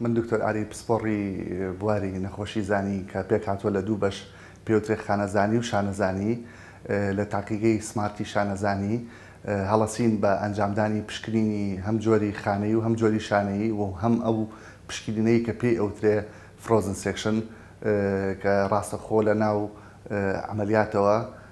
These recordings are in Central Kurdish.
من دکتۆر ئاری پسپۆڕی بواری نەخۆشی زانی کە پێکهاتووە لە دوو بەش پێوترێ خانەزانی و شانەزانی لە تاقیگەی سمارتی شانەزانی هەڵەسین بە ئەنجامدانی پشکنینی هەم جۆری خانەیی و هەم جۆری شانەیی و هەم ئەو پشکینینەی کە پێی ئەوترێ فرۆزن سێکشن کە ڕاستەخۆ لە ناو عەمەلیاتەوە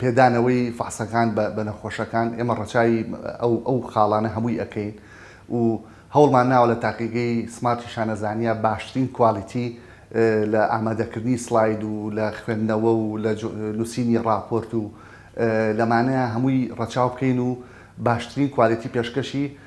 پێدانەوەی فەحسەکان بە نەخۆشەکان، ئێمە ڕەچاوی ئەو ئەو خاڵانە هەمووی ئەکەین و هەوڵمان ناوە لە تاقیگەی سمارتی شانەزانیە باشترین کوالیتی لە ئامادەکردنی سڵاید و لە خوێندنەوە و لە نووسینی ڕاپۆرت و لەمانەیە هەمووی ڕەچاو بکەین و باشترین کوالیتی پێشکەشی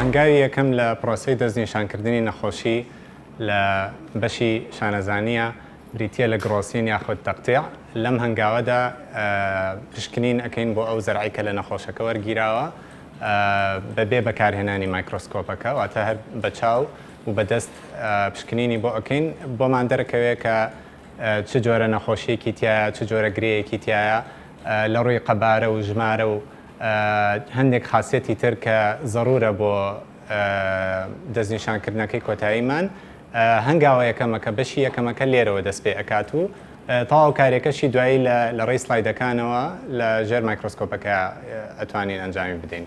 هەنگاوی یەکەم لە پرۆسەی دەستنیشانکردنی نەخۆشی لە بەشی شانەزانییە بریتییە لە گڕۆسین یاخود تەقتیع، لەم هەنگاوەدا پشکنین ئەکەین بۆ ئەو زەرعەی کە لە نەخۆشەکە وەرگیراوە بەبێ بەکارهێنانی مایکرۆسکۆپەکە واتە هەر بە چاو و بە دەست پشکنینی بۆ ئەکەین بۆمان دەرەکەوێت کە چ جۆرە نەخۆشیەکی تایە چ جۆرە گرێیەکی تایە لە ڕووی قەبارە و ژمارە و هەندێک خاسیەتی تر کە زەرورە بۆ دەستنیشانکردنەکەی کۆتاییمان، هەنگاوە یەکەمەکە، بەشی یەکەمەکە لێرەوە دەست پێ ئەکات و تەواو کارێکەشی دوایی لە لە ڕێی سلایدەکانەوە لە ژێر مایکرۆسکۆپەکە ئەتوانین ئەنجامی بدەین.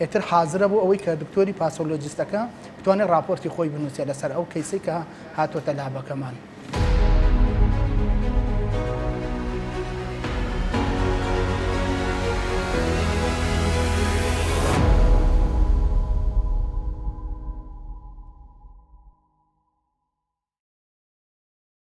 ئیتر حازرە بۆ ئەوەی کە دکتۆری پاسۆلۆجیستەکە بتوانێت ڕاپۆرتی خۆی بنووسێت لەسەر ئەو کەیسەی کە هاتۆتە لابەکەمان.